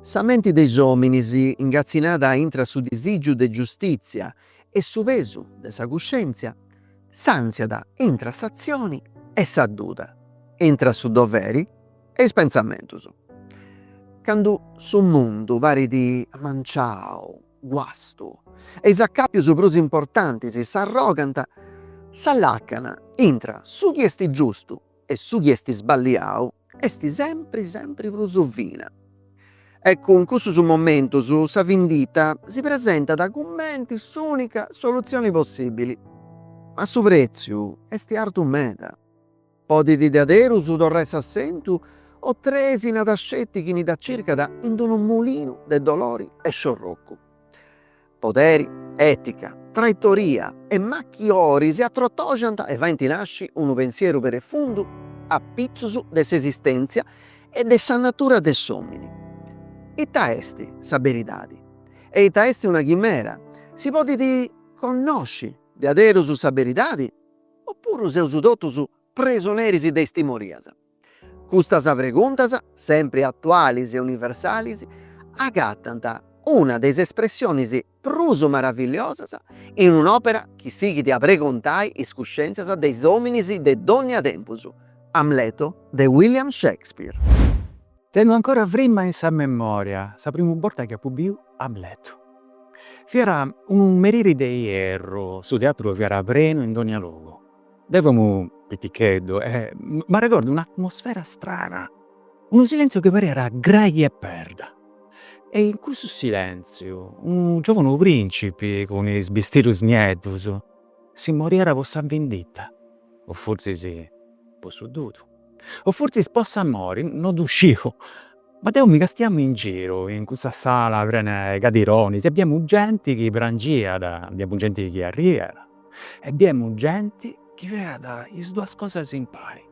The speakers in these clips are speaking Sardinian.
Sa menti de is òminis, ingatzinada intra su disìgiu de giustìtzia e su pesu de sa cuscèntzia, santziat intra s'atzioni e sa duda, intra su doveri e is pentzamentus. Candu su mundu parit amanciau, guastu, e is acàpius prus importantis s'arrogant, sa làcana intra su chi est giustu E su chi est sballiau est sempri sempri prus fina. Ecu, in cussus momentus sa vindita si presentat cumenti s'unica solutzioni possibili. Ma su pretziu est artu meda. Podit diaderus torrai s'assentu o trisinat sceti chini dda circat in d-unu mulinu de dolori e sciorrocu. poderi, ètica, traitoria e machiori si atrotoxant e faint nàsciri unu pensieru profundu a pitzus de s'esistèntzia e de sa natura de s'òmini. Ita est sa beridadi? E ita est una chimera? Si podit connosci diaderus sa beridadi opuru seus totus presoneris de is timorias? Custas preguntas, sempri atualis e universalis, agatant una de is espressionis prus maravilliosas in un'òpera chi sighit a pregontai is cuscèntzias de is òminis de dònnia tempus, Amleto de William Shakespeare. Tengu ancora frima in sa memòria sa primu borta chi apu biu Amleto. Fiat unu meriri de ierru, su teatru fiat prenu in dònnia logu, Deu femu piticheddu e m'arregordu un'atmosfera strana, unu silèntziu chi parriat grai che perda. E in cussu silèntziu unu giòvunu prìncipi cun is bistidus nieddus si moviat po sa vinditta, o fortzis po sa duda, o fortzis po s'amori, no ddu sciu. Ma deu mi castiamu in giru, in cussa sala prena 'e cadironis e biemu genti chi prangiat, biemu genti chi arriat e biemu genti chi feat is duas cosas impari,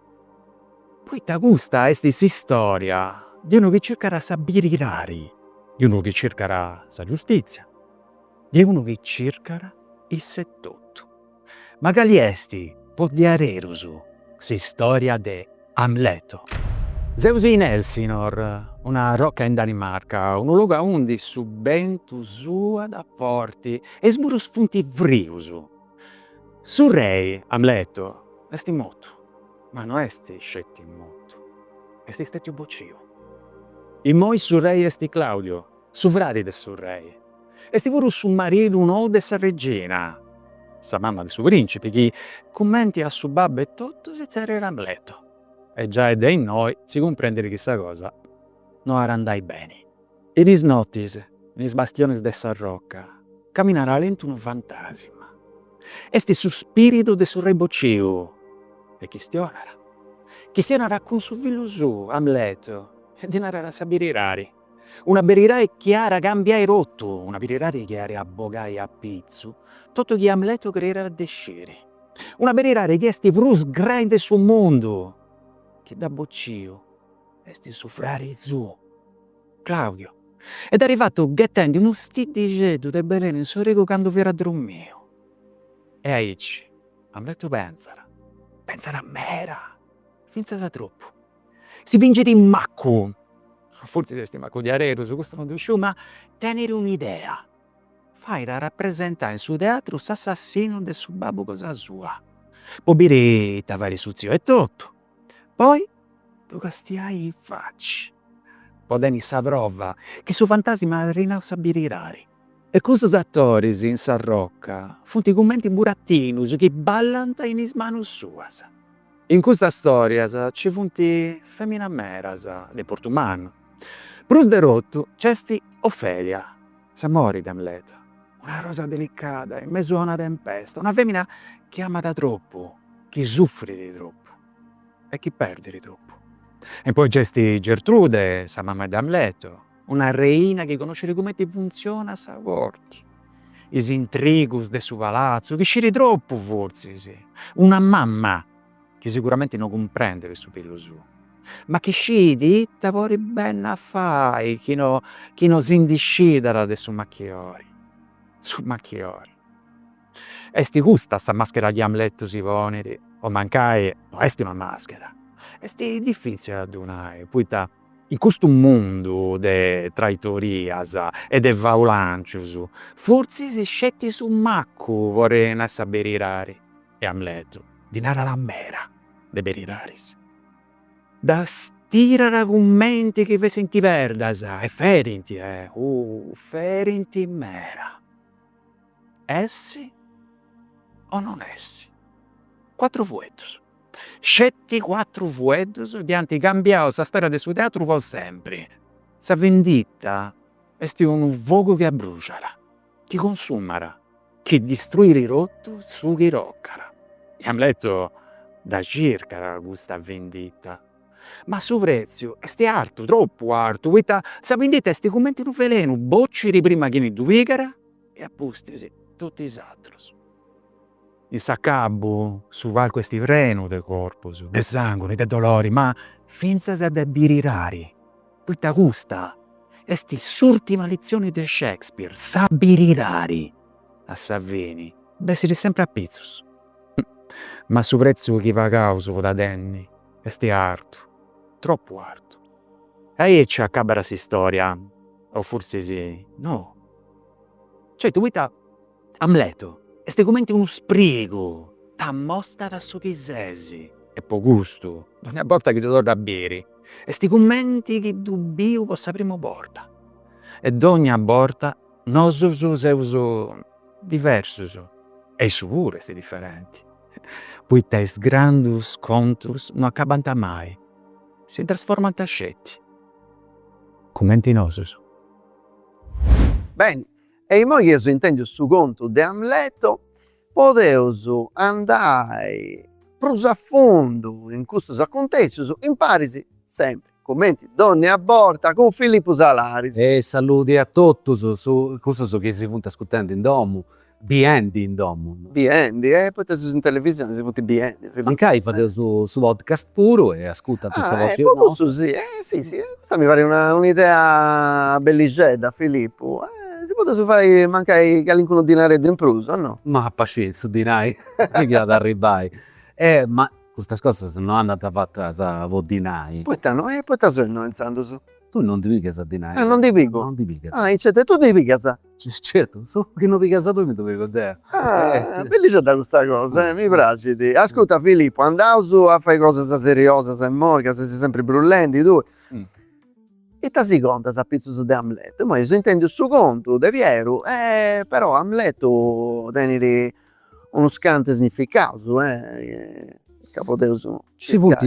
poita custa est s'istória de unu chi circat sa biridadi, de unu chi circat sa giustìtzia, de unu chi circat iss'etotu. Ma cali est po diaderus s'istória de Amleto. Seus in Elsinor, una roca in Danimarca, unu logu aundi su bentu sulat forti e is murus funt frius. Su rei, Amleto, est mortu, ma no est sceti mortu, est stètiu bociu. Immoi su rei est Claudio. su fradi de su rei, est puru su maridu nou de sa regina, sa mama de su principi, chi cumenti a su babbu etotu si tzerriat Amleto, e giai de innoi si cumprendet chi sa cosa no at a andai beni. In is notis, in is bastionis de sa roca, caminat lentu unu fantasima, est su spiridu de su rei bociu, e chistionat, chistionat cun su fillu suu, Amleto, e ddi narat sa beridadi. Una beridadi chi at a cambiai totu, una beridadi chi at a bogai a pitzu totu chi Amleto creiat de sciri, una beridadi chi est prus grai de su mundu, chi dd'at bociu est su fradi suu, Claudio, e dd'at fatu ghetendi unu stiddixeddu de belenu in s'origu candu fiat drumiu. E aici Amleto pentzat, pentzat meda, fintzas tropu. Si fingit maccu, fortzis est maccu diaderus, custu non ddu sciu, ma tenit un'idea, fait rapresentai in su teatru s'assassinu de su babbu cosa sua, po biri ita fait su tziu etotu, po ddu castiai in faci, po tenni sa prova chi su fantasima at nau sa beridadi. E custus attoris in sa rocca funt cumenti buratinus chi ballant in is manus suas. In custas storias ci funt feminas meras de portu mannu. Prus de totu c'est Ofelia, s'amori de Amleto, una rosa delicada in mesu a una tempesta, una femina chi amat tropu, chi suffrit tropu e chi perdit tropu. E poi c'est Gertrude, sa mama de Amleto. una reina chi conoscit cumenti funtzionat sa corti, is intrigus de su palatzu, chi scit tropu fortzis, una mama chi siguramenti no cumprendit su fillu suu, ma chi scit ita podit benni a fai chi no chi no si ndi scidat de su machiori. Su machiori, est custa sa maschera chi Amletu si ponit, o mancai no est una maschera, est difitzili a ddu nai, poita In custu mundu de traitorias e de faulancius, fortzis sceti su maccu podit nai sa beridadi, e Amletu ndi narat meda de beridadis, ddas tirat cumenti chi fessint perdas, e ferint, ohh, ferint meda, essi o non essi, cuatru fueddus. Sceti cuatru fueddus chi ant cambiau sa storia de su teatru po sempri. Sa vendita est unu fogu chi abbruciat, chi consumat, chi distruiri totu su chi tocat. Amletu dda circat custa vendita, ma su pretziu est artu, tropu artu, poita sa vindita est cumenti unu velenu, bociri prima chini ddu pigat e apustis totu is atrus. In s'acabu su palcu est prenu de corpus, de sanguri, de dolori, ma fintzas de birirari, poita custa est s'urtima litzioni de Shakespeare, sa birirari a sa fini bessiri sempri a pitzus. Ma su pretzu chi pagaus po da tenni est artu, tropu artu. E aici acabat s'istoria, o forsis no. Certu, poita. Amletu est cumenti unu sprigu, t'amostat su chi sesi. E po custu, dogna borta chi ddu torru a biri, est cumenti chi ddu biu po sa primu borta. E dogna borta nosus seus diversus, e issu puru est diferenti, poita is grandus contus no acabant mai, si trasformant sceti, cumenti nosus. Beni, E immoi chi eus intèndiu su contu de Amleto, podeus andai prus a fundu in custus acuntèssius, imparis sempri, cumenti dònnia borta, cun Filipu Salaris. E saludi a totus cussus chi si funt ascultendi in domu, biendi in domu. biendi e poita si, in televisioni si funt biendi fit. Mancai fadeus su podcast puru e ascurtant sa voci nostra. Po cussu si, si si custa mi parit una idea bellixedda Filippu si podeus fai mancai calincunu dinareddu in prus o no. Ma a parti su dinai chi iat a arribbai e ma custas cosas no andant fatas po dinai. Poita no e poita seu innoi intzandus. Tui non ndi pigas dinai. Ah non ndi pigu. Non ndi pigas. Ah aici e tui ndi pigas. Certu, su chi no pigas tui mi ddu pigu deu. Ah, bellixedda custa cosa, eh, mi praxit. Ascurta Filippo, andaus a fai cosas seriosas immoi ca ses sempri brullendi tui. Ita si contas apitzus de Amletu? Immoi eus intendiu su contu de Pieru e però Amletu tenit unus cantu significaus, eh, ca podeus. Ci funt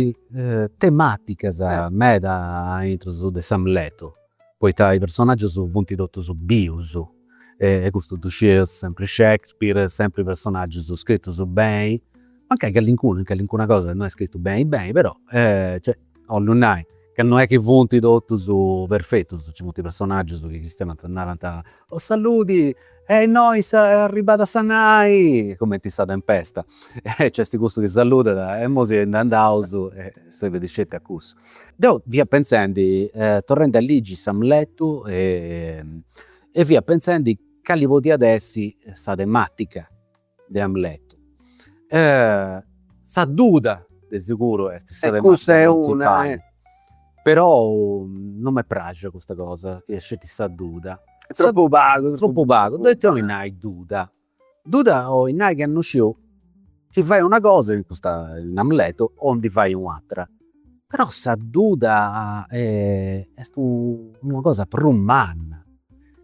tematicas meda a intrus de s'Amletu. poita is personaggius funt totus bius e custu ddu scieus sempri Shakespeare, sempri personaggius scritus beni, mancai callincunu in callincuna cosa no est scritu beni beni, però cioè 'ollu nai ca no est chi funt totus perfetus, nci funt personaggius chi chistionant, narant, o saludi E innoi s'arribada a sa nai, cumenti in sa tempesta, nc'est cussu chi saludat e imoi si ndi andaus e serbit sceti a cussu. Deu fia pentzendi, torrendi a ligi s'Amletu e fia pentzendi cali podiat essi sa tematica de Amletu. Sa duda de seguru est sa tematica printzipali, perou non m'est praxia custa cosa chi est sceti sa duda. Tropu pagu. Tropu pagu, poi ita 'oli nai duda? Duda 'oli nai chi no sciu chi fai una cosa in custu momentu o ndi fai u'atra. Però sa duda est una cosa prus manna,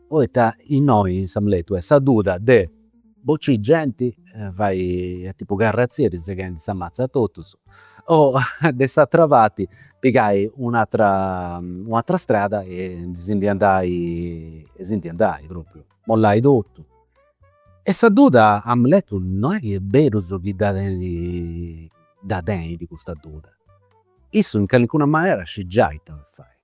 poita innoi in s'Amletu est sa duda de Bocì genti fai tipu carratzia ddi seghendi sa matza a totus o de s'atera parti pigai u' atera u' atera strada e si ndi andai e si ndi andai propriu, mollai totu. E sa duda Amletu no est chi est berus chi dda tenidi dda tenidi custa duda, issu in calincuna manera scit giai ita fai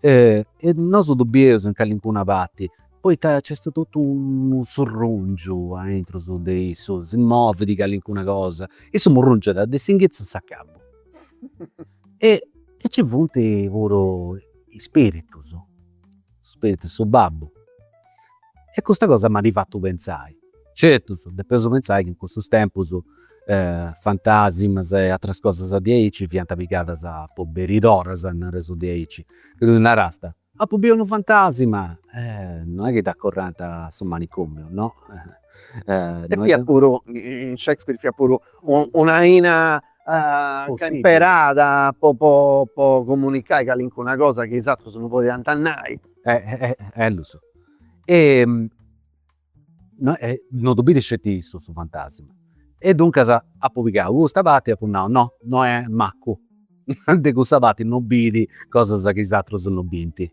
E nosu ddu bieus in callincuna parti poita nc'est totu unu surrungiu aintru de issu, si movit callincuna cosa, issu murrungiat de s'inghitzu in s'acabu e nci funt puru is spiritus spiritu 'e su babbu e custa cosa m'at fatu pentzai, certu depeus pentzai chi in custus tempus fantasimas e ateras cosas diaici fiant pigadas po berideras, nareus diaici, chi tui narasta, apu biu unu fantasima, non est chi t'acorrant a su manicomiu, no. E fiat puru, in Shakespeare fiat puru un'aina imperada po po po comunicai calincuna cosa chi is atrus no podiant nai. E lu so. E no ddu biri sceti issu su fantasma. E duncas apu pigau custa parti e apu nau, no, no est macu, de cussa parti no biri cosas chi is atrus no binti.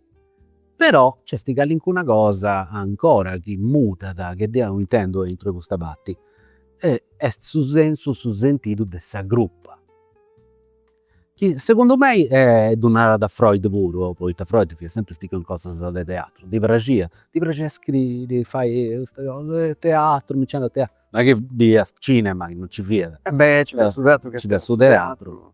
Però nc'est calincuna cosa ancora chi mudat, che deu intendu aintru 'e custa parti, e est su sensu, su sentidu de sa crupa, chi segundu mei e ddu narat Freud puru, poita Freud fiat sempri stichiu in cosas de teatru, ddi praxiat, ddi praxiat scriri, fai custa cosa 'e teatru, mi nci teatru, no est chi biiat cinema, chi non nci fiat, e invecias su teatru, nci fiat su teatru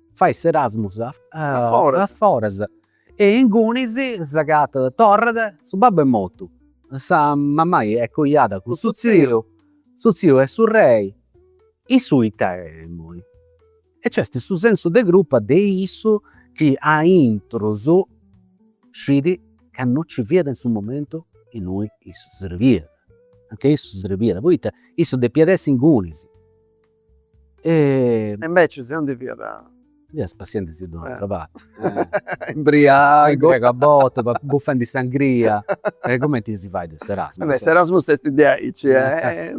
fait s'Erasmus a foras e ingunis s'agatat torrat su babbu est mortu sa mamai est coiada cun su tziu su tziu est su rei insomma ita est immoi e nc'est su sensu de curpa de issu chi aintrus scit ca no ci fiat in su momentu innui issu srebiat anca issu srebiat poita issu depiat essi ingunis E. E invece issu non ci fiat. Fiat spassiendi-sì ind un'atra parti. Imbriagu. Imbriagu a bortas, buffendi sangria. E cumenti si fait in s'Erasmus. Beh s'Erasmus est diaici e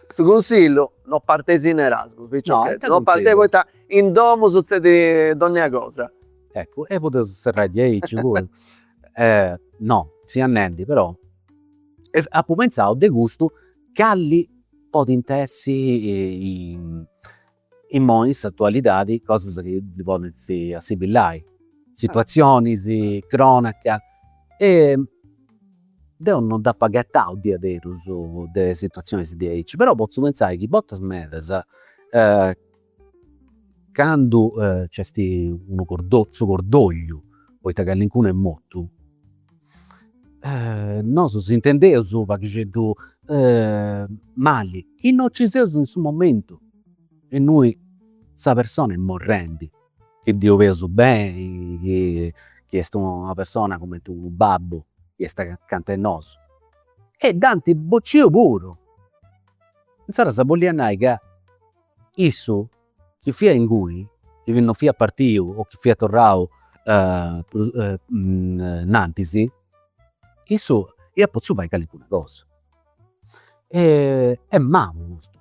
su cunsillu, non parteis in Erasmus picciocheddus, non parteis poita in domu sutzedit donnia cosa. Eccu, e podeus serrai diaici puru. No, fia nendi però, apu pentzau de custu Calli podint essi immoi in s'atualidadi cosas chi ddi podint assimbillai, situatzionis, cronaca e deu non nd'apu agatau diaderus de situatzionis diaici, però potzu pentzai chi bortas medas Candu nc'est unu cordolliu, su cordolliu, poita callincunu est mortu, nosu s'intendeus u' paghixeddu mali, chi no ci seus in su momentu innui sa persona est morrendi, chi ddi 'oleus beni, chi est una persona cumenti unu babbu chi est acanta 'e nosu e dd'ant bociu puru, insaras bolliat nai ca Issu chi fiat ingunis, chi non fiat partiu o chi fiat torrau prus innantis, issu iat potziu fai calicuna cosa. Est mannu custu,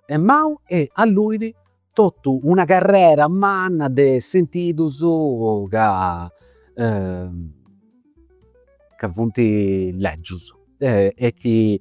est mannu e alluit totu una carrera manna de sentidus ca ca funt lègius e chi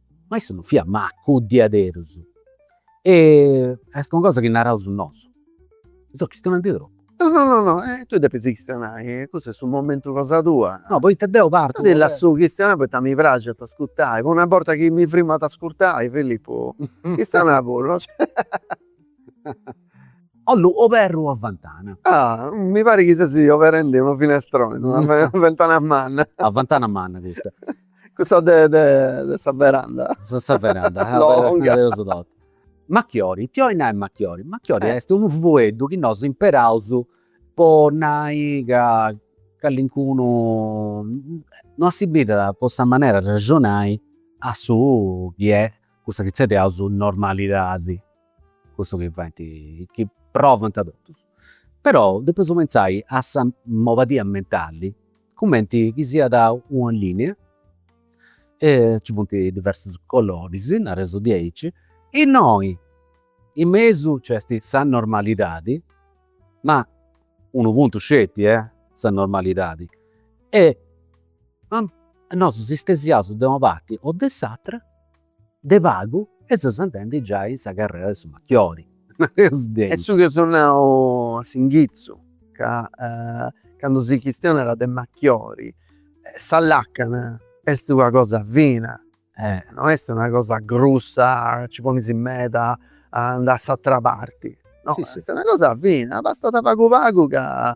Ma issu non fiat maccu, diaderus. E est una cosa chi naraus nosu. Seu chistionendi tropu. No no no no, tui depis chistionai, custu est su momentu cosa tua. No, poita deu partu. Ti lassu chistionai poita mi praxit a ascurtai, po una borta chi mi frimu ad ascurtai, Filippu, chistionai puru. Ollu oberri una ventana? Ah, mi parit chi sesi oberendi unu finestroni, una ventana manna. Ah, ventana manna custa. Cussa de de sa veranda. De sa veranda longa. Nareus totu. Machiori, ita 'olit nai machiori? Machiori est unu fueddu chi nosu imperaus po nai ca callincunu no assimbillat po sa manera de arraxonai a su chi est cussa chi zerriaus normalidadi. cussu chi faint, chi provant totus, però depeus pensai a sa mobadia mentali cumenti chi siat una linea e nci funt diversus coloris, nareus diaici, innoi in mesu nc'est sa normalidadi, ma unu puntu sceti, sa normalidadi, e nosu si stesiaus de una parti o de s'atera de pagu e ses andendi giai in sa carrera de su machiori, naru deu. Est su chi eus nau a s'inghitzu, ca candu si chistionat de machiori, sa làcana est una cosa fina, no est una cosa grussa ca nci ponis meda a andai a s'atera parti, no, est una cosa fina, bastat pagu pagu ca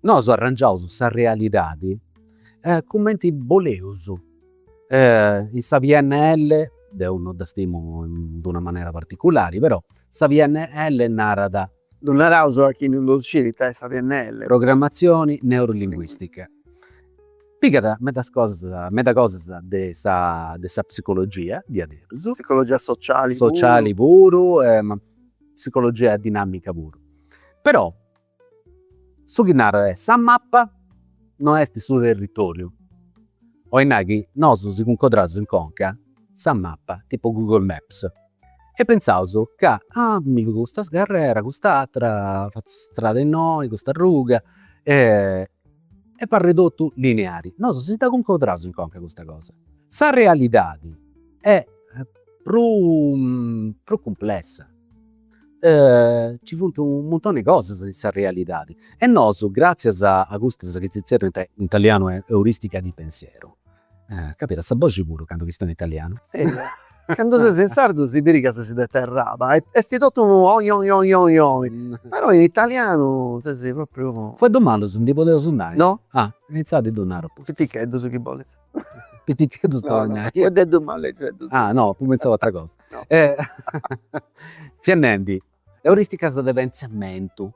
Nosu arrangiaus sa realidadi cumenti boleus, in sa pnl, deu no dda stimu in una manera particulari, però sa pnl narat. Ddu naraus a chini ddu scit ita est sa pnl. Programmazioni neurolinguistica. Pigat medas cosas, medas cosas de sa de sa psicologia diaderus. Psicologia sociali puru. Sociali puru, ma psicologia dinamica puru. Però Su chi narat est sa mappa no est su territòriu, 'oit nai chi nosu si cuncodraus in conca sa mappa, tipu Google Maps, e pensaus ca ah mi pigu custa carrera, cust'atera, fatzu s'istrada innoi, custa arruga e parit totu lineari. Nosu si dda cuncodraus in conca custa cosa. Sa realidadi est prus prus cumplessa Nci funt u' muntoni 'e cosas in sa realidadi e nosu gratzias a custas chi si zerriant in italianu euristiche di pensiero, càmbias sa boxi puru candu chistionas in italianu. Candu ses in sardu si biri ca ses de Terraba e esti totu unu oi oi oi oi oi, però in italianu ses propriu. Fueddus malus ndi podeus nai? No. Ah, intzandus ddu naru apustis. Piticheddus chi bolis. Piticheddus tornai. No no, fueddeddus malixeddus. Ah no, apu pensau a ateras cosas. No. Fia nendi, euristicas de pensamentu.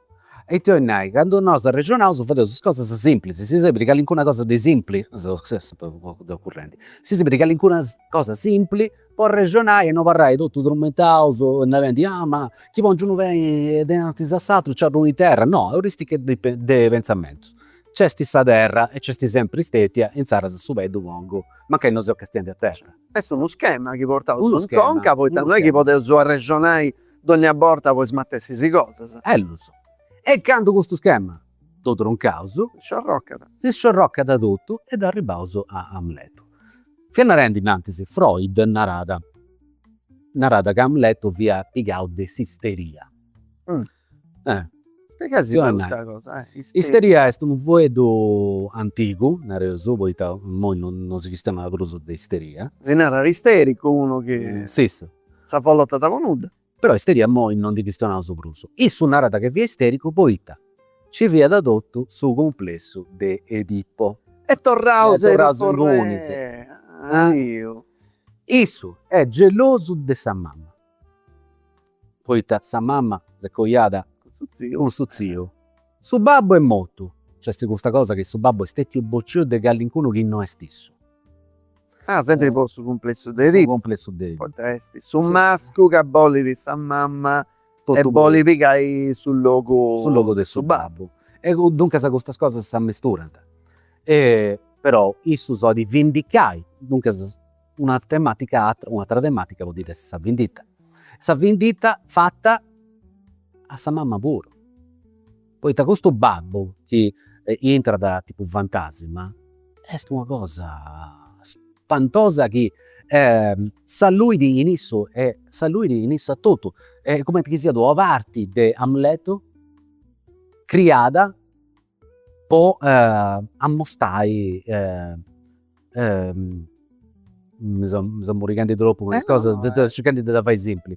E ita 'olit nai, candu nosu arrexonaus fadeus is cosas simplis, si serbit calincuna cosa de simpli, seu sempri currendi, si serbit calincuna cosa simpli Po arrexonai e no abarrai totu trummentaus narendi, ah ma chi pongiu unu pei denantis a s'atru nci arruu in terra. No, euristiche de pensamentu. Nc'esti sa terra e nc'esti sempri stetia e intzaras su pei ddu pongu, mancai no seu castiendi a terra. Est unu schema chi portaus in conca poita no est chi podeus arrexonai dogna borta po is matessis cosas. Bellus. E candu custu schema Dd'ho troncaus. Sciorrocat. Si sciorrocat totu e dd'ho arribaus a Amletu. Fia narendi innantis, Freud narat, narat ca Amletu fia pigau de s'isteria. Eh. Spiegai-sì' unu pagu custa cosa, eh. Isteria. Isteria est unu fueddu antigu, nareus, poita immoi non si chistiona prus de isteria. Si narat istericu unu chi. S'is. S'afollotat po nudda. Però isteria imoi no ndi chistionaus prus. Issu narat chi fiat istericu poita ci fiat totu su cumplessu de Edipo. E torraus a Eropones. Issu est gelosu de sa mama poita sa mama s'est coiada cun su tziu. Su babbu est mortu. Nc'est custa cosa chi su babbu est stètiu bociu de callincunu chi no est issu. Ah, sèmpiri po su cumplessu de Edipu. Su cumplessu de Edipu. Potest. Su mascu chi bolit sa mama e bolit pigai su logu. Su logu de su babbu. E duncas custas cosas s'ammisturant. E però issu s'olit vindicai. Duncas. Una tematica atra, un'atra tematica podit essi sa vindita, sa vindita fata a sa mama puru, poita custu babbu chi intrat tipu fantasima est una cosa spantosa chi s'alluit in issu e s'alluit in issu atotu e est cumenti chi siat una parti de Amletu criada po ammostai mi seu mi seu murighendi tropu cun is cosas deu circhendi de dda fai simpli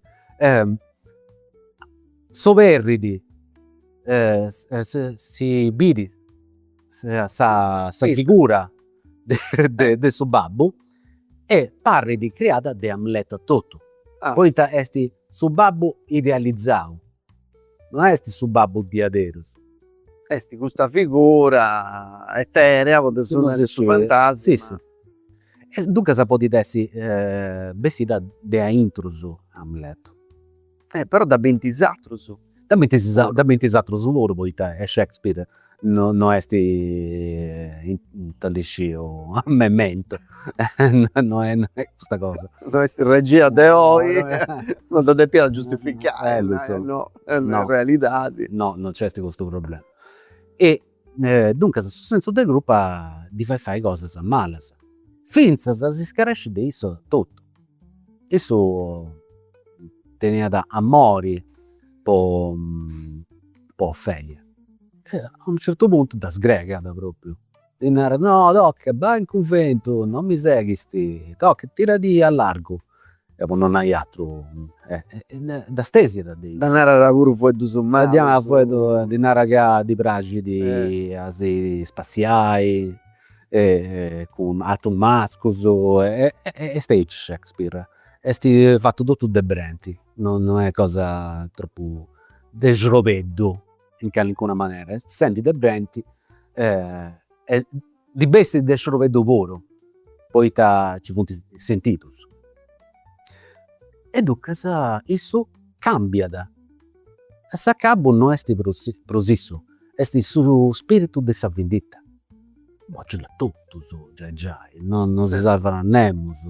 s'oberridi si biri sa sa sa figura de de su babbu e parridi criada de Amleto a totu poita esti su babbu idealizau No esti su babbu diaderus. Esti custa figura eterea po si nai su fantasma. E duncas podit essi bessida de aintrus Amletu. Però dda binti is atrus. Dda binti is atrus puru poita est Shakespeare No no est intendisciu a m'emmentu no est custa cosa. No est regia de oi non de depiat giustificai no no realidadi. No no nc'est custu problema. E duncas su sensu de curpa ddi fait fai cosas malas finzas a s'iscaresci de issu totu. Issu teniat amori po po Ofelia e a unu certu puntu dda sgreghiat propriu, ddi narat, no, toca bai in cunventu, non mi seghisti, toca tiradì a largu e po no nai atru e dda stesiat de is. Ddi narat puru fueddus malus. Ddi narat fueddus, ddi narat ca ddi praxit a si spassiai cun atrus mascus est aici Shakespeare est fatu totu de brenti no no est cosa tropu de srobeddu in calincuna manera est sempri de brenti e ddi bessit de srobeddu puru poita nci funt sentidus e duncas issu cambiat A s'acabu no est prus issu, est su spiritu de sa vinditta. Bocit a totus, giai giai, no si sarvat nemus,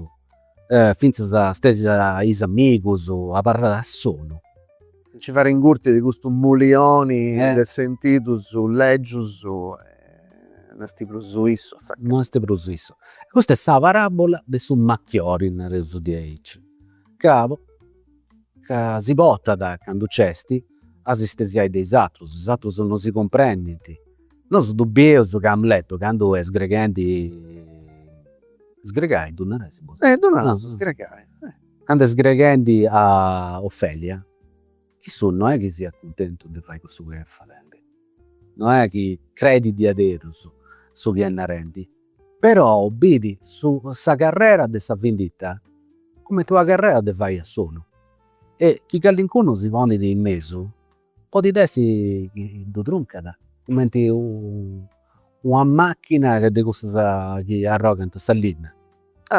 fintzas stesiat is amigus, abarrat a solu. Si fait ingurti de custu mulioni de sentidus lègius no est prus issu a s'acabu. No est prus issu. Custa est sa paràbola de su machiori, nareus diaici, ca po Ca si potat, candu nc'esti, a si stesiai de is atrus, is atrus no ddu cumprendint. Nosu ddu bieus ca Amletu candu est sgreghendi, sgregai ddu narai si podit? Eh! Ddu naraus sgregai. Candu est sgreghendi a Ofelia, issu no est chi siat cuntentu de fai cussu chi est fadendi, no est chi credit diaderus su chi est narendi. Però bidit su sa carrera de sa vindita cumenti una carrera de fai a solu e chi callincunu si ponit in mesu podit essi chi ddu truncat cumenti una machina de cussas chi arrogant sa linna.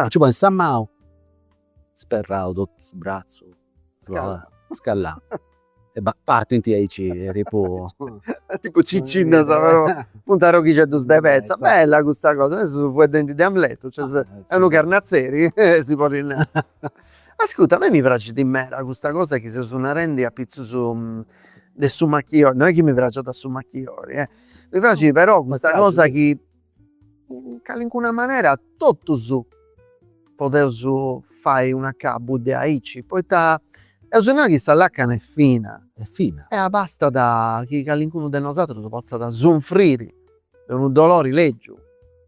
Nci ponis sa manu Sperrau totu su bratzu scallau e partint aici tipu. Tipu cincidas però funt arroghixeddus de petza. Bella custa cosa, teneus su fueddendi de Amletu, cioè est unu carnatzeri si podit nai. Ascurta, a mei mi praxit meda custa cosa chi seus narendi apitzus de su machiori, no est chi mi praxiat su machiori, mi praxit però custa cosa chi in calincuna manera totus podeus fai un acabu de aici, poita eus nau chi sa lacana est fina est fina e abastat chi calincunu de nosatrus potzat sunfriri de unu dolori lègiu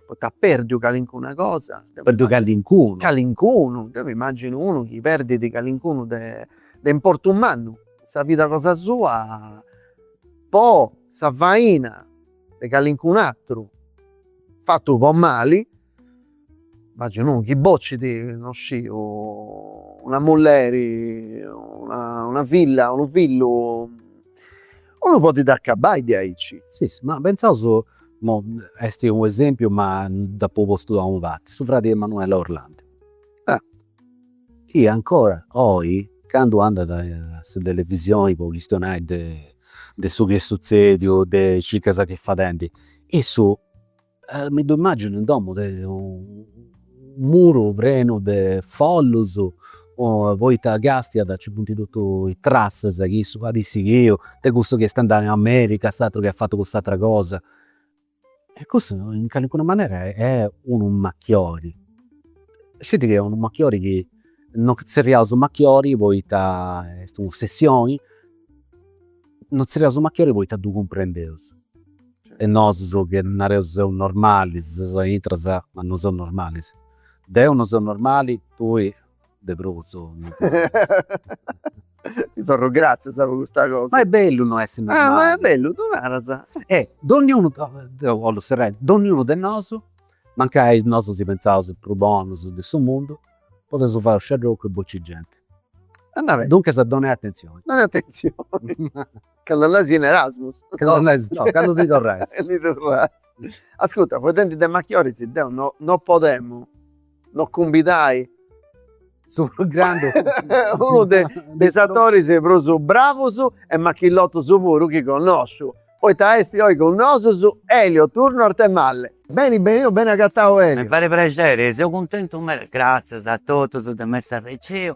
poita at pèrdiu calincuna cosa, at pèrdiu calincunu, calincunu, deu mi imaginu unu chi perdit calincunu de de importu mannu in sa vida cosa sua po sa faina de calincun'atteru fattu po mali, immaginu chi boccit, non sciu, una mulleri, una filla, unu fillu, unu podit accabbai de aici. Si si, ma pentzaus, immoi esti unu esempiu ma dd'apu postu de una parti, su fradi 'e Emanuela Orlandi. Chi ancora oi candu andat a sa televisioni po chistionai de de su chi est sutzediu, de is circas chi est fadendi, issu mi ddu immaginu in domu de unu muru prenu de follus poita chi càstiat ci funt totu is trassas chi issu at sighiu de cussu chi est andau in America, s'atru chi at fatu cuss'atera cosa E cussu in calincuna manera è unu machiori. Sceti chi è unu machiori chi no zerriausu machiori poita est un'ossessioni, no zerriausu machiori poita ddu cumprendeus. E nosus chi nareus seus normalis, seus aintras, ma no seus normalis. Deu no seu normali, tui de prus ti torru gratzias po custa cosa. Ma è bellu no essi normali. Ma è bellu ddu naras. E donniunu deu 'ollu serrai, donniunu de nosu, mancai nosu si pentzaus is prus bonus de su mundu, podeus fai u' sciarrocu e bocci genti. Duncas donai atentzioni. Donai atentzioni Candu andais in Erasmus. Candu andais no, candu ndi torrais. E ndi torrais. Ascurta, faeddendi de machioris deu no no podemu no cumbidai su prus grandu unu de de is atoris prus bravus e machillotus puru chi connosciu, poita esti oi cun nosus Elio Turno Arthemalle. Beni beni, oh beni agatau Elio. Mi fait prexeri, seu cuntentu meda, gratzias a totus de m'essi arriciu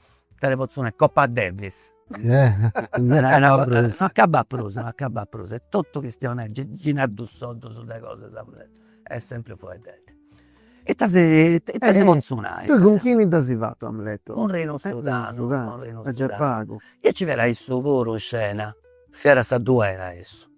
Ita ti potzu nai, Coppa Davis no acabbu prus, no acabbu prus, est totu chistionai, gei nai dus soddus de cosas, est sempri fueddedda. Ita si potzu nai. Tui cun chini dd'asi fatu Amleto? Cun Rinu Sudanu, cun Rinu Sudanu. Già pagu. Nci fiat issu puru in scena, fiat sa duera a issu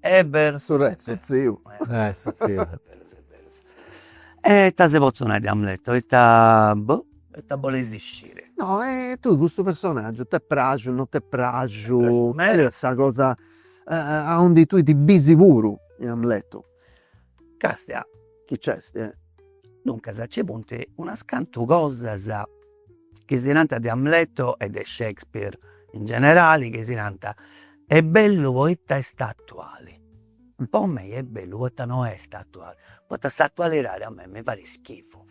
Est berus su re su tziu. E su tziu e berus e berus. E ita si potzu nai de Amleto, ita boh ita boleis isciri. No e tui cussu personaggiu t'est praxiu non t'est praxiu, meda sa cosa aundi tui ti bisi puru in Amleto. Castia. Chi nc'est? Duncas nci funt unas cantu cosas chi si narant de Amleto e de Shakespeare in generali chi si narant, est bellu poita est atuali, po mei est bellu poita no est atuali, poita s'atualidadi a mei mi fait schifu.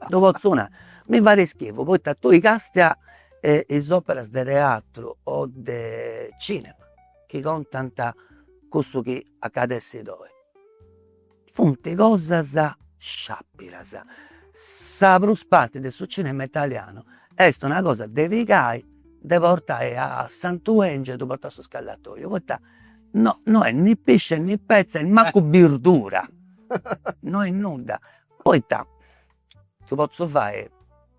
Ddu potzu nai, mi fait schifu poita tui castia is operas de teatru o de cinema chi contant cussu chi at a essi ddoi. Funt cosas sciàpidas, sa prus parti de su cinema italianu est una cosa de pigai, de portai a Sant'Èngiu ddu portai a su scallatoju, poita no no est ni pisci e ni petza e mancu birdura, no est nudda, poita ti potzu fai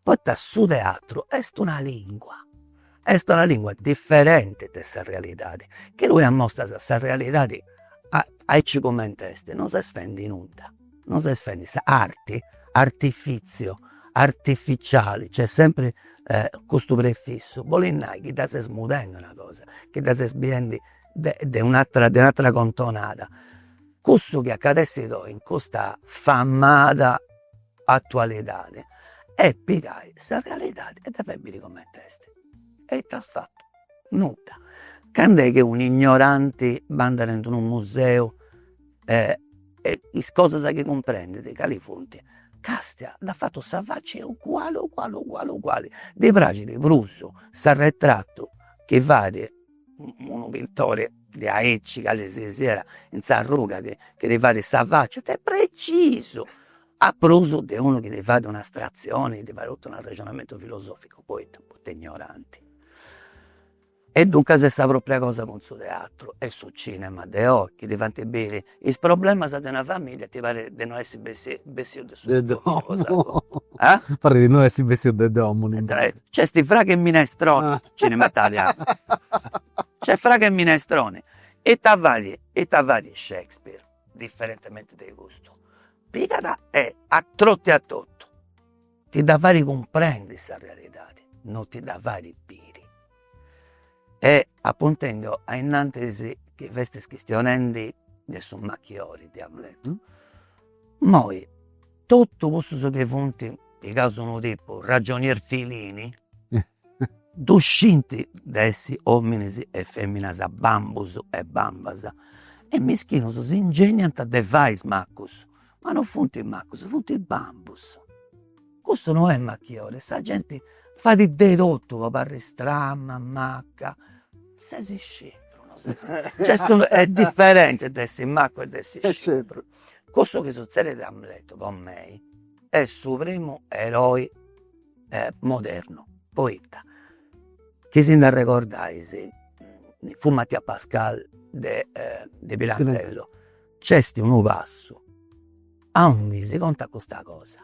Poita su teatru est una lingua, est una lingua diferenti de sa realidadi, chi tui ammostras sa realidadi aici cumenti est, non ses fendi nudda, non ses fendi, arti, artifìtziu, artificiali, nc'est sempri custu prefissu, bolit nai chi dda ses mudendi una cosa, chi dda ses biendi de de un'atera de un'atera contonada. Cussu chi at essi ddoi in custa famada atualidadi e pigai sa realidadi e dda fai biri comente est e ita as fatu, nudda. Cando est chi unu ignoranti b'andat in unu museu e is cosas chi cumprendit cali funt, castia dd'at fatu sa facia uguali uguali uguali uguali, ddi praxit prus s'arretratu chi fait unu pitori diaici cali si siat in s'arruga chi ti fait sa facia, est precisu, a prus de unu chi ti fait un'astratzioni, chi ti fait totu un'arrexonamentu filosoficu, poita poita ignoranti. E duncas est sa propria cosa cun su teatru e su cinema de oi, chi ti faint biri Is problemas de una familia ti parit de no essi bessius de domu. Parit de no essi bessius de domu. Nc'est fragu e minestroni, cinema italianu. Nc'est fragu e minestroni. Ita fait, ita fait Shakespeare, diferentementi de custu, pigat e atrotiat totu ti dda fait cumprendi sa realidadi, no ti dda fait biri e a puntinu ainnantis chi festis chistionendi de su machiori diamus nai, immoi totu cussus chi funt pigaus unu tipu ragionier Filini Ddu scint de essi ominis e feminas bambus e bambas e mischinus si ingeniant de fai is macus, ma no funt macus, funt bambus. Custu no est machiori, sa genti fait de totu po aparri stramma, maca, sesi scipru, no sesi cioè est diferenti de essi macu e de essi scipru. Cussu chi sutzedit a Amletu po mei est su primu eroi modernu, poita chi si nd'arregordais fu Mattia Pascal de de Pirandello, nc'est unu passu aundi si contat custa cosa,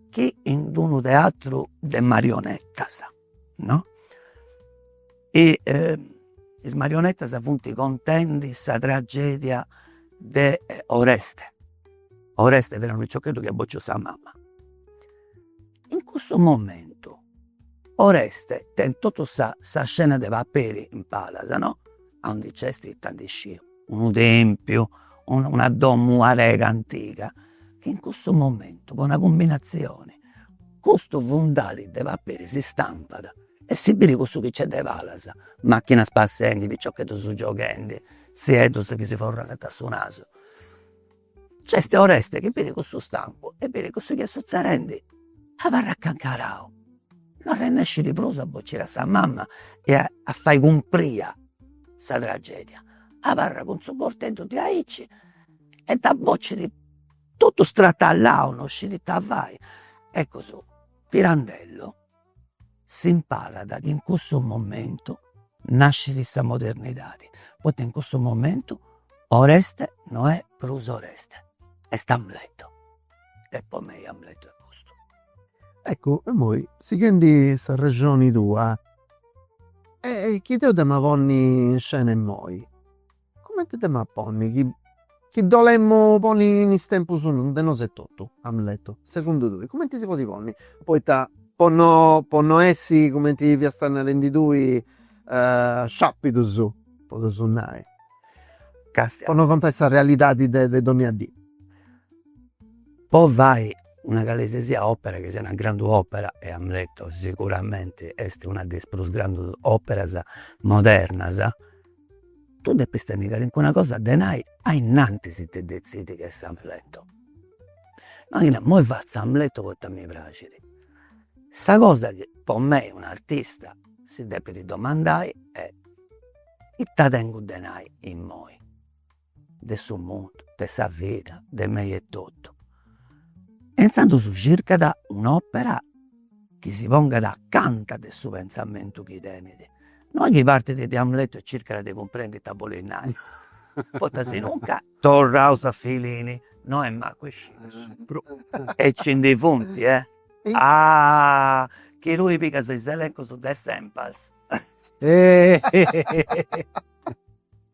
chi in d'unu teatru de marionetas no e is marionettas funt contendi sa tragedia de Oreste, Oreste fiat unu piciocheddu chi iat bociu sa mama, in cussu momentu Oreste tenit totu sa scena de paperi in palas no, aundi nc'est ita ndi sciu unu tempiu, una domu arega antiga, in cussu momentu po una cumbinatzioni Custu fundali de paperi si stampat e si biri cussu chi nc'est de palas, machinas passendi, piciocheddus gioghendi, tzieddus chi si forrogant su nasu. Nc'est Oreste chi biri cussu stampu e biri cussu chi est sutzedendi, abarrat cancarau, no arrennescit prus a bociri a sa mama e a fai cumpriri sa tragedia, abarrat cun su borteddu de aici e dda bocit totu stratallau non scit ita fai, ecus Pirandello si imparat chi in cussu momentu nascit sa modernidadi, poita in cussu momentu Oreste no est prus Oreste, est Amleto e po mei Amleto est custu. Eccu immoi sighendi s'arrexoni tua, chi deu dd'emu a ponni in scena immoi Cumenti dd'em'a ponni chi chi dd'olemu ponni in is tempus de nosu etotu? Amletu, segundu tui, cumenti si podit ponni? Poita po no po no essi cumenti fiasta narendi tui sciapidus, po ddosu nai, po no contai sa realidadi de de donnia dì. Po fai una calesesia opera chi siat una grandu opera, e Amletu siguramenti est una de is prus grandus operas modernas tui depis tenni calincuna cosa de nai ainnantis de detzidi ca est s'Amletu, no chi nas, immoi fatzu s'Amletu poita mi praxit, sa cosa chi po mei un'artista si depit domandai est, ita tengu de nai immoi de su mundu, de sa vida, de mei etotu. E intzandus circat un'opera chi si pongat acanta de su pensamentu chi tenit, no chi partit de Amleto e circat de cumprendi ita bolit nai, poita sinuncas, torraus a Fellini, no est mancu isciu su prus e ci ndi funt eh. Chi tui pigas is elencus de Sempars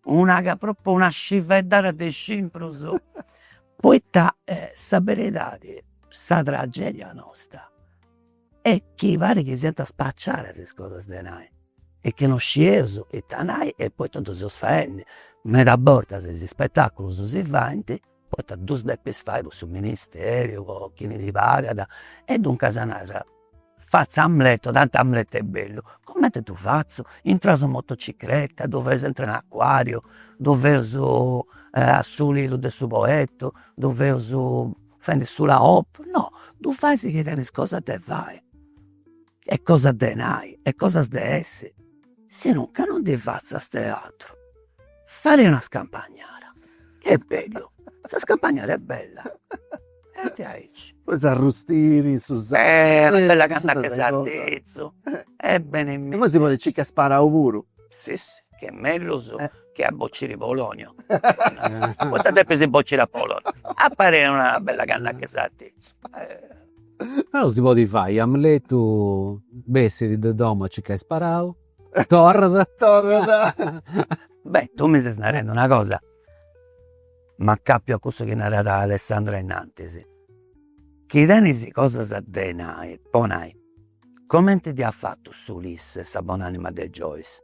Nc'at propriu una scivedda de scimprus poita sa beridadi sa tragedia nosta est chi parit chi siant spaciadas is cosas de nai e chi non scieus ita nai e poita ddu seus faendi, meda bortas is spetaculus si faint Poita ddus depis fai cun su ministeriu, po chi ti pagat. E duncas narat, fatzu Amletu, tanti Amletu est bellu. Cumenti ddu fatzu? Intraus in motocicreta, ddu feus aintru in acuàriu, ddu feus a su lidu de su Poetu, ddu feus fendi s'ula op. No, ddu fais chi tenis cosas de fai. e cosas de nai e cosas de essi, sinuncas non ndi fatzas teatru, fai una scampagnada, chi est bellu, sa scampagnada est bella etotu aici. Poi s'arrustini in su sale. Una bella canna de sartitzu e binu. E poi si podit circai sparau puru. Si si, chi est mellus che a bociri Polonio, poita depis bociri a Polonio, papa una bella canna de sartitzu Però si podit fai, Amletu bessit de domo a circai sparau, torrat. Torrat. Beh tu mi ses narendi una cosa, m'acapiu a cussu chi narat Alessandra innantis, chi tenis cosas de nai, po nai, comenti dd'iat fatu s'Ulisses sa bon'anima de Joyce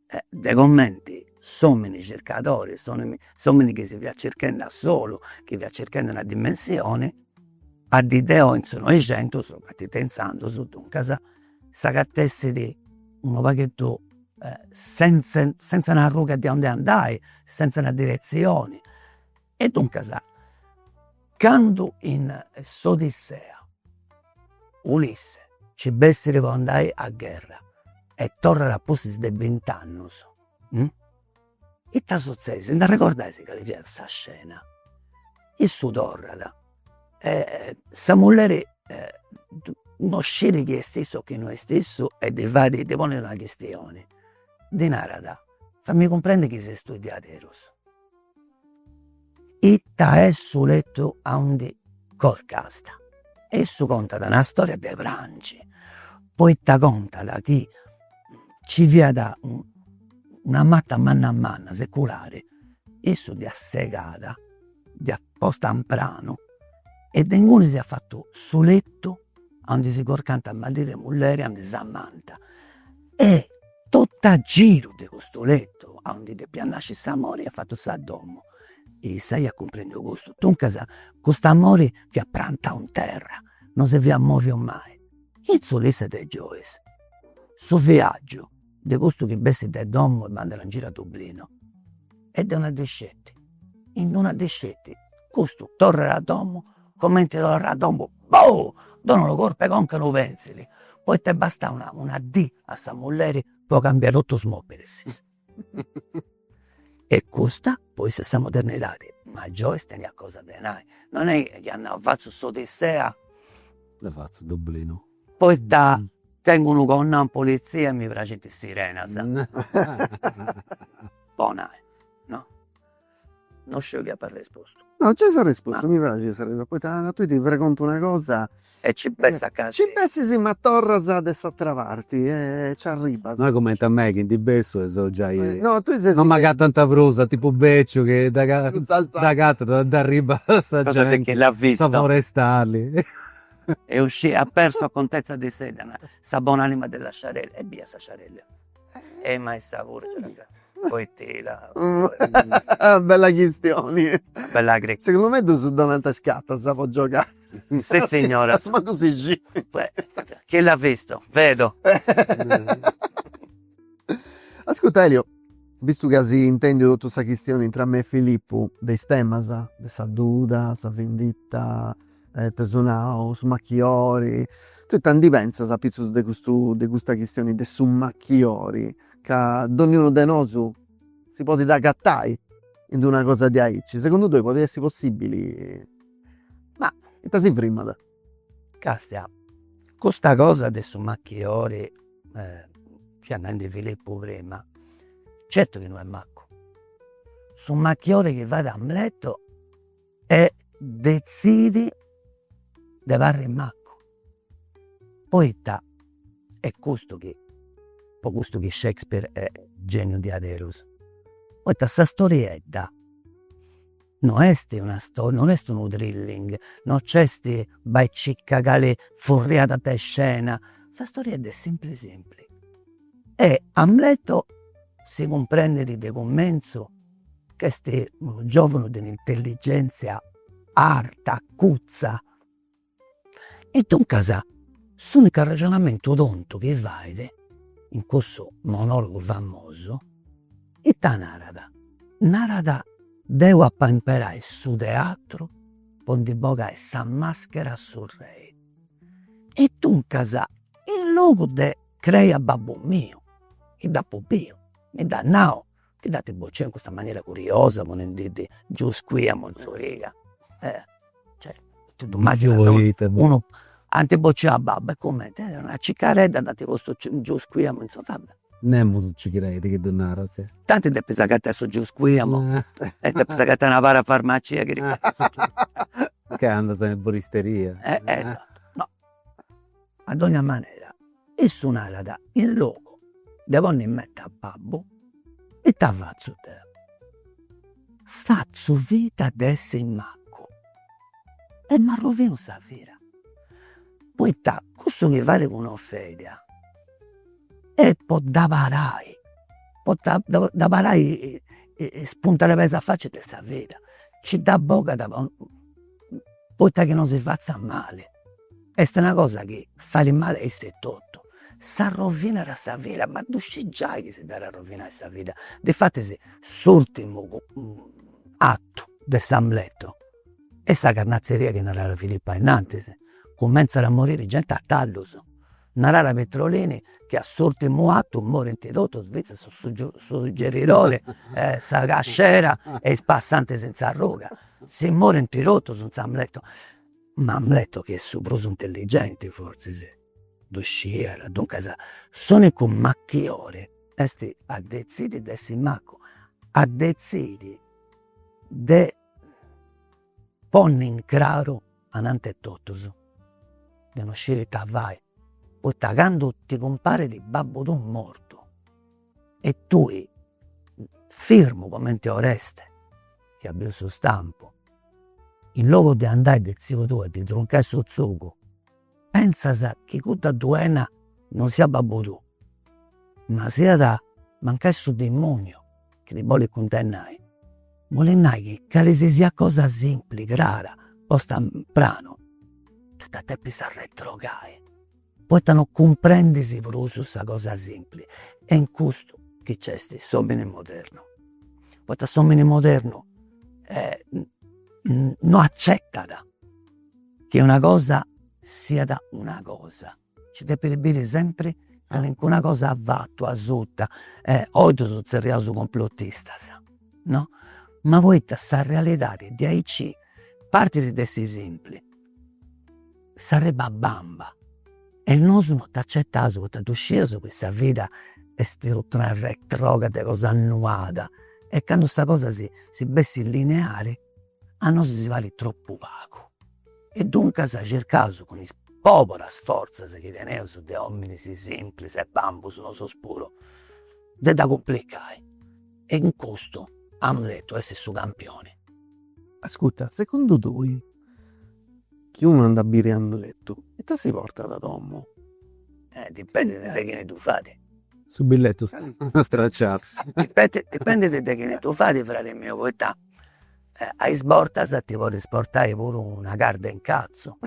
De cumenti s'omini circadori, s'omini chi si fiat circhendi a solu, chi fiat circhendi una dimensioni, a dì de oi, in su Noixentus, a dì de intzandus duncas, s'agatessit unu pagheddu senza senza una arruga de aundi andai, senza una diretzioni E duncas candu in s'Odissea Ulisse nci bessit po andai a gherra e torrat a pustis de bint'annus, ita sutzessit, si nd'arregordais cali fiat sa scena, issu torrat e sa mulleri non scit chi est issu o chi no est issu e ddi fait, ddi ponit una chistioni, ddi narat, fai-mì cumprendi chi ses tui diaderus Ita est su lettu aundi corcasta. E issu contat una storia de prangi, poita contat chi nci fiat una mata manna manna seculari, issu dd'iat segada, dd'iat posta in pranu e de inguni s'iat fatu su lettu Aundi si corcant maridu e mulleri aundi s'amant. E totu a giru de custu letu aundi depiat nasci s'amori iat fatu sa domu. E issa iat cumprendiu custu. Duncas cust'amori fiat prantau in terra, non si fiat mòviu mai. In s'Ulisse de Joyce su viaggiu de custu chi bessit de domu e andat in giro a Dublinu e deu non ddi sceti, in non ddi sceti, custu torrat a domu, comente torrat a domu bou! Donat unu corp'e conca a unu penzili, poita est bastada una una dì a sa mulleri po cambiai totu is mobilis e custa po essi sa modernidadi, ma Joyce teniat cosa de nai, non est chi at nau fatzu s'odissea, dda fatzu in Dublinu Poita tengu unu connau in polizia e mi praxint is sirenas. Po nai, no. No sciu chi apa arrespostu. No, nc'est arrespostu, mi praxit sa resa, poita tui ti pregontu una cosa e nci bessit a casi. Nci bessit si ma torras de s'atera parti e nci arribas. No est cumenti a mei chi ndi bessu e seu giai, no, tui scis. Non m'agatant prus, a tipu beciu chi dd'agatant e dd'arribat sa genti, sa forestali. E uscì a persu a contezza de s'edda na sa bon'anima della sciarella ebbia sa sciarella e mai sa furgia poitela bella chistioni bella cri segundu me ddus donant is cartas po giogai sissignora a su mancu si scit chi l'at vistu vedo ascurta Eliu vistu chi as intendiu totu sa chistioni intra me e Filippu de is temas de sa duda sa vinditta Eus nau su machiori, tui ita ndi pentzas apitzus de custu de custa chistioni de su machiori, ca donniunu de nosu si podit agatai in d'una cosa diaici, segundu tui podit essi possibili, ma ita si frimat. Castia, custa cosa de su machiori fia nendi Filippu prima, certu chi no est macu, su machiori chi fait Amleto e dezzidi de parri macu, poita est custu chi, po custu chi Shakespeare est geniu diaderus, poita sa storiedda no est una sto, non est unu thrilling, non nc'est bai e circa cali furriada de scena, sa storiedda est simpli simpli e Amleto si cumprendit de cumentzu Ch'est unu giòvanu de un'intelligèntzia arta, acutza. E duncas s'unicu arrexonamentu tontu chi fait in cussu monòlogu famosu, ita narat, narat, deu apo a imperai su teatru po ndi bogai sa màschera a su rei. E duncas in logu de crei a babbu miu, chi dd'apu biu, mi dd'at nau Chi dd'anti bociu in custa manera curiosa ponendi ddi giusquiamu in s'origa e cioè totu ddu mazzint, unu, ant bociu a babbu e cumenti, eh una cicaredda dd'ant postu giusquiamu in s'origa, va bè. Nemos nci credi chi ddu naras. Tanti depis agatai su giusquiamu e depis agatai una parafarmacia chi ddi fait su giusquiamu. Ca andas in erboristeria. A dogna manera issu narat, in logu de ponni in menti a babbu, ita fatzu deu, fatzu finta de essi maccu e m'arrovinu sa vida, poita cussu chi fait cun Ofelia est po dda parai, po dda parai is puntas de peis a faci de sa vida, nci dda bogat po poita chi non si fatzat mali, est una cosa chi fait mali a iss'etotu, s'arrovinat sa vida, ma ddu scit giai chi si dd'at a arrovinai sa vida, difatis s'urtimu atu de s'Amleto est sa carnatzeria chi naràt Filippo ainnantis, cumentzat a moriri genti a tallus Naràt Petrolini chi a s'urtimu atu morint totus fintzas su suggeridori e sa cascera e is passantis in s'arruga. Si morint totus in s'Amletu. Ma Amletu chi est su prus intelligenti forzis ddu sciiat. Duncas s'unicu machiori est a detzidi de essi maccu, a detzidi de ponni in craru ananti 'e totus de no sciri ita fai poita candu ti cumparit babbu tuu mortu e tui firmu comente Oreste chi at biu su stampu in logu de andai de tziu tuu a ddi truncai su tzugu Pentzas chi cudda duena non siat babbu tuu, ma siat mancai su dimoniu chi ti bolit cundennai. Bolit nai chi cali si siat cosa simpli, crara, posta in pranu, ti dda depis arretrogai, poita non cumprendis prus sa cosa simpli. Est in custu chi nc'est s'omini modernu, poita s'omini modernu non accetat Chi una cosa siat una cosa, nci depit biri sempri calincuna cosa afatu asuta e oi ddus zerriaus complotistas no, ma poita sa realidadi diaici partit de aici simpli, s'arribat bamba e nosu no dd'acetaus poita ddu scieus chi sa vida est tot'una retroga de cosa annuada e candu sa cosa si bessit lineari a nosu si parit tropu pagu e duncas circaus cun is poburas fortzas chi teneus de ominis simplis e bambus nosu puru de dda cumplicai e in custu amus detu essi su campioni. Ascurta, segundu tui chi unu andat a biri Amletu ita si portat a domu? Dipendit de chini ddu fait. Su billetu stracciau. Dipendit de chini ddu fait fradi miu poita A is bortas ti podis portai puru una carda 'e incatzu,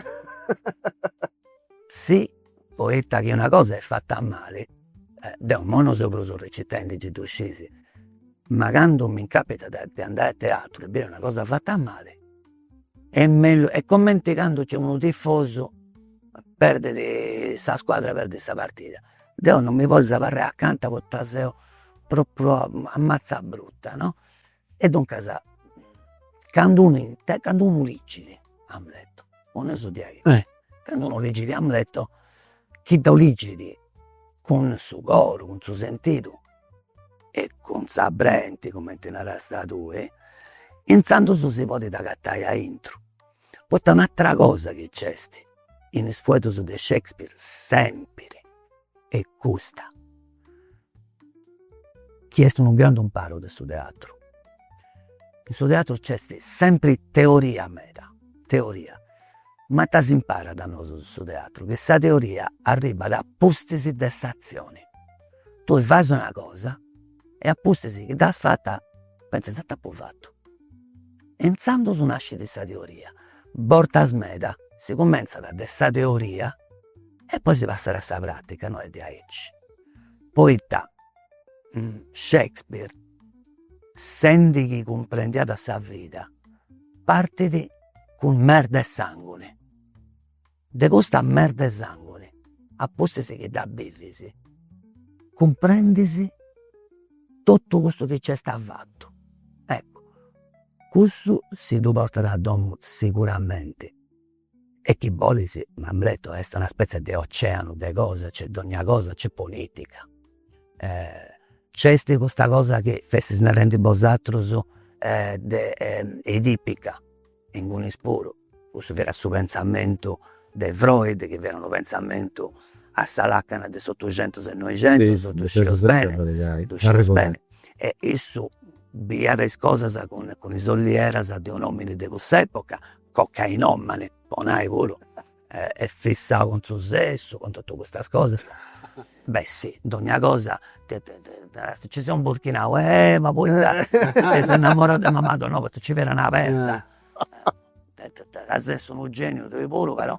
sì poita chi una cosa est fata mali, deu imoi non seu prus recitendi gei ddu scis, ma candu mi capitat de andai a teatru e biri una cosa fata mali est mellus, est cumenti candu nc'est unu tifosu perdit sa scuadra perdit sa partida, deu non mi podis abarrai acanta poita seu propriu a matza bruta no E duncas candu unu inter candu unu ligit Amleto, po nai su diaiu, candu unu ligit Amleto chi ddu ligit cun su coro, cun su sentidu e cun sa brenti cumenti narasta tui, intzandus si podit agatai aintru, poita un'atera cosa chi nc'est in is fueddus de Shakespeare sempiri est custa chi est unu grandu imparu de su teatru. In su teatru nc'est sempri teoria meda, teoria, ma ita s'imparat a nosu in su teatru, chi sa teoria arribbat a pustis de s'atzioni. Tui fais una cosa e a pustis chi dd'as fata pentzas, ita apu fatu. E intzandus nascit sa teoria, bortas meda si cumentzat de sa teoria e poi si passat a sa pratica no est diaici, poita Shakespeare sendi chi cumprendiat sa vida partit cun merda e sanguni, de custa merda e sanguni a pustis chi dda bivis cumprendis totu cussu chi nc'est avatu, eccu cussu si ddu portat a domu siguramenti E chi bolis, in Amleto, est una spetzia de oceanu de cosa, nc'est dogna cosa, nc'est politica, nc'est custa cosa chi festis narendi bosatrus de edipica, inguni puru, cussu fiat su pentzamentu de Freud chi fiat unu pentzamentu a sa lacana de s'otuxentus e noixentus, ddu scius beni, ddu scius beni, e issu biiat is cosas cun is ollieras de un' omini de cuss'epoca Cocainòmane po nai puru e fissau cun su sessu, cun totu custas cosas, beh si, dogna cosa ddoi ses imburchinau, eh ma poita ti ses innamorau de mama tua, no poita ci fia una perda, ca ses unu gèniu tui puru però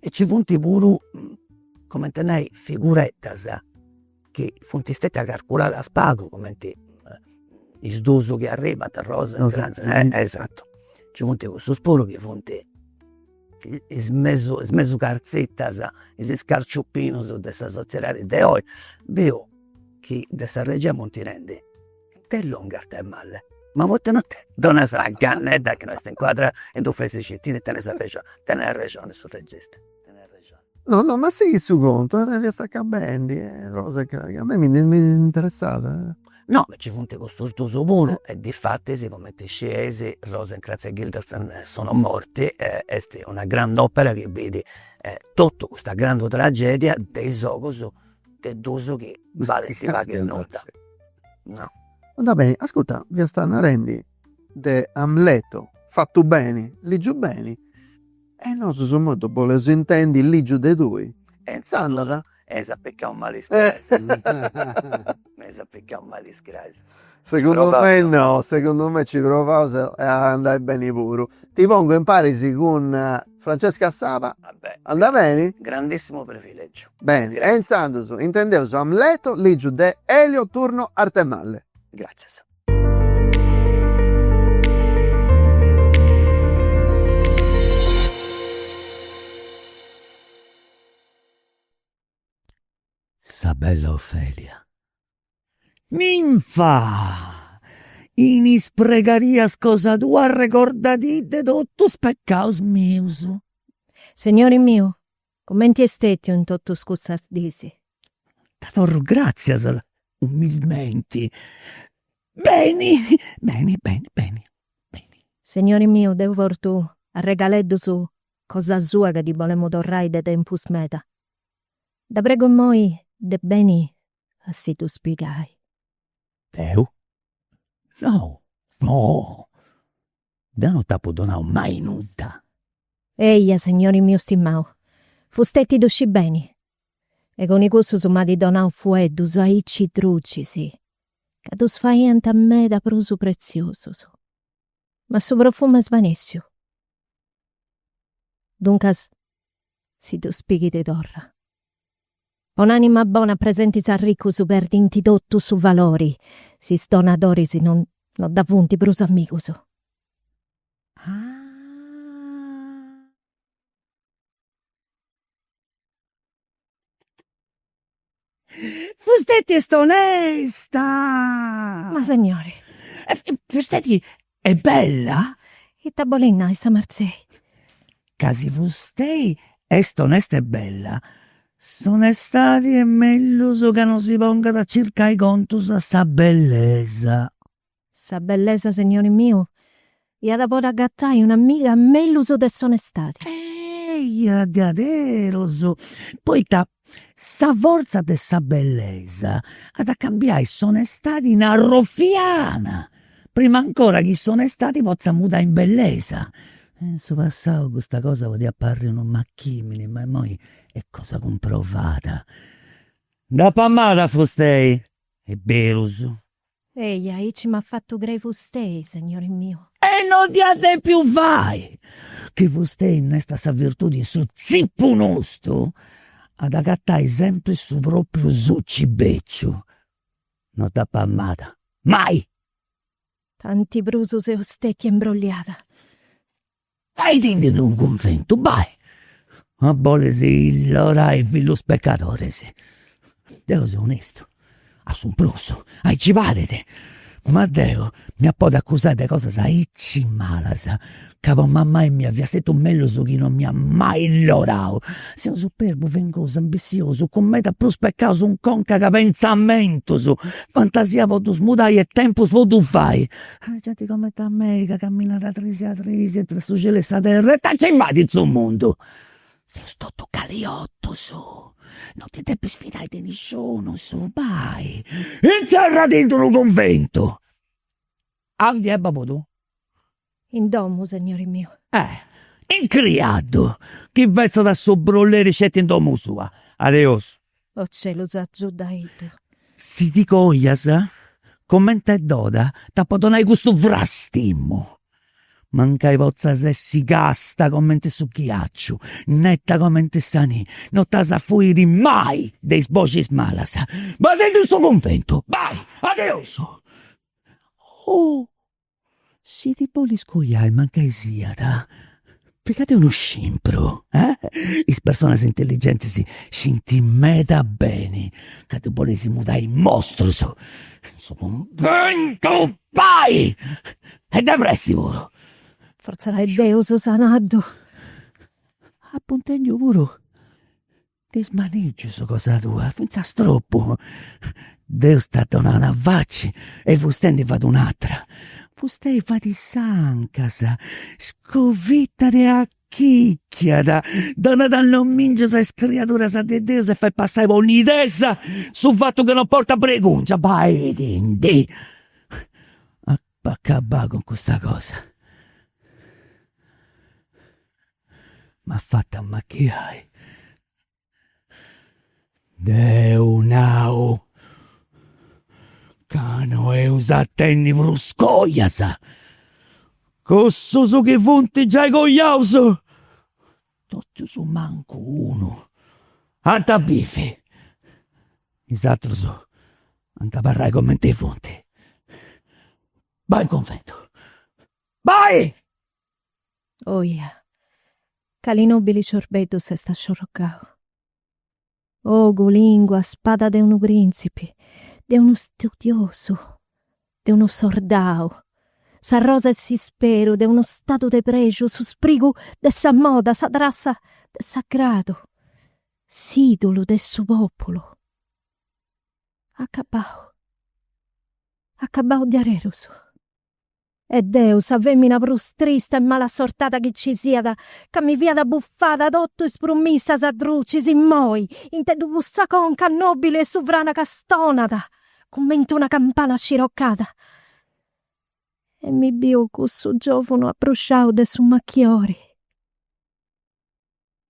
e ci funt puru, cumenti a nai, figureddas chi funt stetias carculadas pagu, cumenti is dus chi arribant, Rosenkranz, esatu, nci funt cussus puru chi funt is mesu is mesu cartzitas, is iscarciupinus de sa soziedadi de oi, biu chi de sa regia funt tenendi Itzerriendi de mali, ma poita non ti donas agatendi chi no est incuadrada in d'unu fesixitinu, tenes arrexoni, tenet arrexoni su regista, tenet arrexoni. No no ma sighit su contu, fiaus acabendi, cosa ca a mei mi interessat. No, nci funt custus dus puru e difatis cumenti scieis Rosenkranz e Guildenstern sono morti e est una grand'opera chi bit totu custa grandu tragedia de is ogus de dus chi balint pagu e nudda. Va beni, ascurta, fiasta narendi de Amleto, fatu beni, ligiu beni e nosu immoi ddu boleus intendi ligiu de tui. E intzandus eis apicau mali is peis. Eus apicau mali is crais. Segundu me no, segundu me ci provaus a andai beni puru. Ti pongu imparis cun Francesca Saba. Ah beh. Andat beni? Grandissimu privilegiu. Beni, e intzandus intendeus Amleto ligiu de Elio Turno Artemalle. Gratzias. sa bella Ofelia. Ninfa! In is pregarias cosa tua arregordadì de totu is pecaus mius. Segnori miu, cumenti est stètiu in totus custas dis. Dda torru gràtzias umilmenti. Beni, beni, beni, beni. Segnori miu, deu portu arregaleddus cosa sua ca ddi bolemu torrai de tempus meda. Dda prego immoi de beni a si ddus pigai. Deu? No, no! Deu no t'apu donau mai nudda! Eia, segnori miu stimau, fustei ddu scit beni! E cun cussus m'at donau fueddus aici drucis, ca ddus faiant meda prus pretziosus. Ma su profumu est svanèssiu. Duncas si ddus pighit torra. Po un'ànima bona presentis arricus perdint totu su valori si is donadoris no dda funt prus amigus. Ah. Fusteti est onesta! Ma segnori! Fusteti est bella? Ita bolit nai sa Marzei? Ca si fustei est onesta e bella, s'onestadi est mellus ca non si pongat a circai contus a sa bellesa. Sa bellesa, segnori miu, iat a podi agatai un'amiga mellus de s'onestadi. Eia diaderus! Poita sa forza de sa bellesa at a cambiai s'onestadi in arrofiana, prima ancora chi s'onestadi potzat mudai in bellesa. In su passau custa cosa podia aparri unu machimini, ma imoi est cosa cumprovada. Dd'apu amada a fustei, est berus, Ehi, aici m'at fatu crei fustei, segnori miu. E no dd'iat depiu fai, chi fustei innestat sa virtudi in su tzipu nostu, at agatai sempri su propriu suci beciu. No dd'apu amada, mai! Tanti prus seu stetia imbrogliada. Baitendi in d'unu cunventu, bai, ma bolis illorai fillus peccadoris. Deu seu onestu, a su prus, aici parit, ma deu m'iat podi accusai de cosas aici malas, ca po mamai mia fiat stetiu mellus chi non m'iat mai illorau. Seu superbu, fengosu, ambissiosu, cun meda prus peccaus in conca ca pentzamentus, fantasia po ddus mudai e tempus po ddus fai. Ah genti cumenti a mei ca caminat a trisi a trisi intr'e su cielu e sa terra, ita nci fait in su mundu? Seus totus caliotus, non ti depis fidai de nisciunus, bai, intzerrati in d'unu cunventu. Aundi est babu tuu? In domu, segnori miu. Eh! Incriaddu chi fetzat su brulleri sceti in domu sua. Adeus. O celus agiudaiddu. Si ti coias comente doda t'apo donai custu frastimu. Mancai potzas essi casta comente su ghiaciu, netta comente sa nì, no t'as a fuiri mai de is boxis malas. Baitendi in su cunventu. Bai. Adeus. Oh. Si ti bolis coiai mancai siat, piga·dì unu scimpru, is personas intelligentis scint meda beni ca ddus boleis mudai in mostrus, in su cunventu bai, e de pressi puru. Fortza lah adeus apu nau. Apu intendiu puru De is manìgius cosa tua, fintzas tropu. Deus si at donau una faci e fustei ndi fait un'atra. Fustei fait is sancas, scovitat e achichiat, donat nomìngius a is criaduras de Deus e fait passai po nidesa su fatu ca no portat bregùngia. Baidindi! Bah acabai cun custa cosa m'at fatu ammachiai. Deu nau ca no eus a tènniri prus cojas, cussus chi funt giai cojaus Totus mancu unu ant a bìviri, is atrus ant a abarrai cumenti funt. Bai in cunventu, bai! Oja, cali nobili sciorbeddu s'est asciorrocau! Ogu, lìngua, spada de unu prìntzipi, de unu studiosu, de unu sordau, sa rosa 'e s'isperu de unu stadu de prexu, su sprigu de sa moda, sa trassa de s'agradu, s'ìdulu de su pòpulu. Acabau. Acabau diaderus. E deu, sa femina prus trista e malasortada chi ci siat, ca mi fia bufada totu is prumissas drucis immoi, intendu cussa conca nobili e suvrana ca stonat, cumenti una campana sciorrocada. E mi biu cussu giovunu abbrusciau de su machiori.